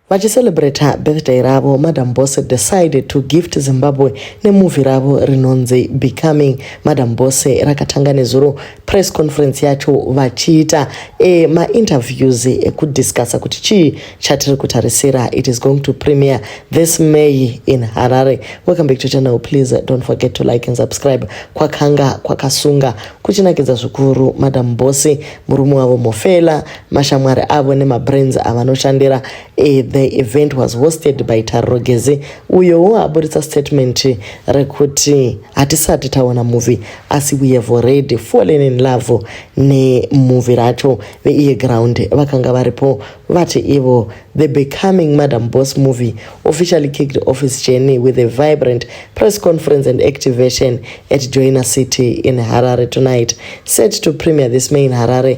Vachicelebrater birthday ravo, Madam Boss decided to gift Zimbabwe nemovie ravo rinonzi Becoming. Madam Boss rakatanga nezuro press conference yacho vachiita e, mainterviews ekudiscussa kuti chii chatiri kutarisira. It is going to premiere this May in Harare. Welcome back to channel. Please don't forget to like and subscribe. Kwakanga kwakasunga kuchinakidza zvikuru Madam Boss, murume wavo Mofela mashamwari avo nemabrands avanoshandira eh, the event was hosted by tariro gezi uyowo aburitsa statement rekuti hatisati taona movie asi we have already fallen in love nemovie racho veiye ground vakanga varipo vati ivo the becoming madam boss movie officially kicked off his journey with a vibrant press conference and activation at joina city in harare tonight set to premier this may in harare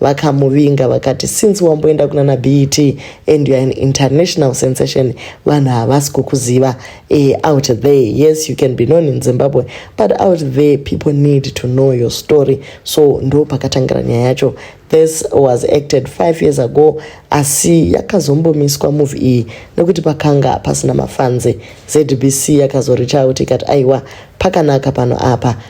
vakamuvinga vakati since wamboenda kuna na bet and youare an international sensation vanhu havasi kukuziva e, out there yes you can be known in zimbabwe but out there people need to know your story so ndo pakatangira nyaya yacho this was acted five years ago asi yakazombomiswa move iyi nekuti pakanga pasina mafanzi zbc yakazoricha out ikati aiwa pakanaka pano apa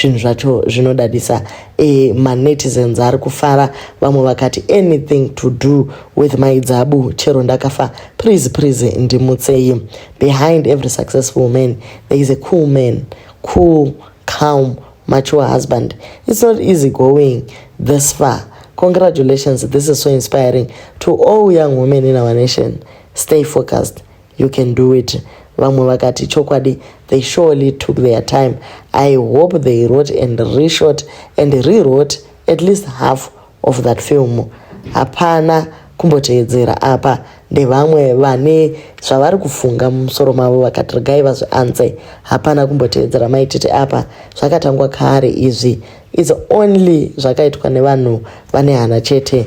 zvinhu zvacho zvinodadisa e, manetizens ari kufara vamwe vakati anything to do with mai dzabu chero ndakafa please please ndimutsei behind every successful man there is a cool man cool calm mature husband it's not easy going this far congratulations this is so inspiring to all young women in our nation stay focused You can do it. Vamwe vakati chokwadi they surely took their time. I hope they wrote and reshot and rewrote at least half of that film. Hapana kumboteedzera apa ndevamwe vane zvavari kufunga mumusoro mavo vakati regai vazvianze. Hapana kumboteedzera maitete apa zvakatangwa kare izvi. It's only zvakaitwa nevanhu vane hana chete.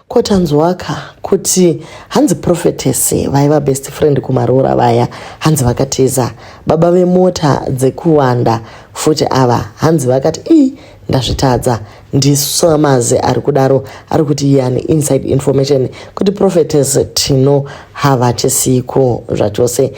Ko tanzwaka kuti hanzi prophetess vaiva best friend kumaroora vaya hanzi vakatiza baba vemota dzekuwanda futi ava hanzi vakati ii ndazvitadza ndisamazi ari kudaro ari kuti iye ane inside information kuti prophetess tino havachisiiko zvachose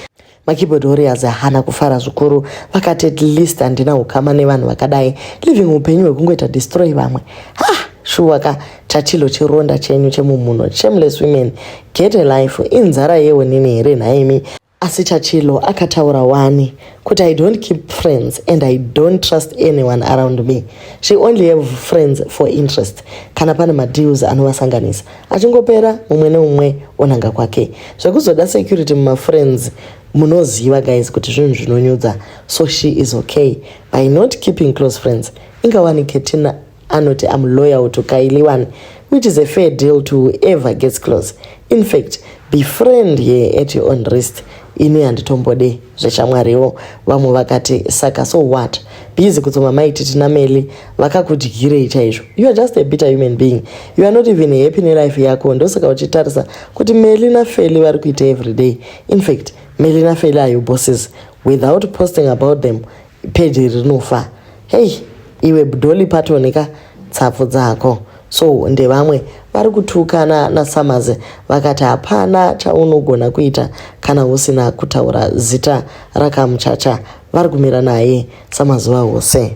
makeyboard warriors hana kufara zvikuru vakati at least handina ukama nevanhu vakadai living upenyu hwekungoita destroy vamwe ha shuwa ka chatilo chironda chenyu chemumhuno shameless women get a life inzara yeonini here nhaimi asi chachilo akataura wani kuti i don't keep friends and i don't trust anyone around me she only have friends for interest kana pane madeals anovasanganisa achingopera mumwe neumwe onanga kwake zvekuzoda security mumafriends munoziva guys kuti zvinhu zvinonyudza so she is okay by not keeping close friends ingawani ketina anoti am loyal to kailiwani which is a fair deal to whoever gets close in fact befriend ye at your own risk ini handitombode zveshamwariwo vamwe vakati saka so what bizi kutsoma maiti tina meli vakakudyirei chaizvo you are just a bitter human being you are not even happy nelife yako ndosaka uchitarisa kuti meli nafeli vari kuita everyday infact meli nafeli ayo bosses without posting about them peji rinofa hei iwe bdoli patonika tsapfu dzako so ndevamwe vari kutukana nasamaze vakati hapana chaunogona kuita kana usina kutaura zita rakamuchacha vari kumira naye samazuva ose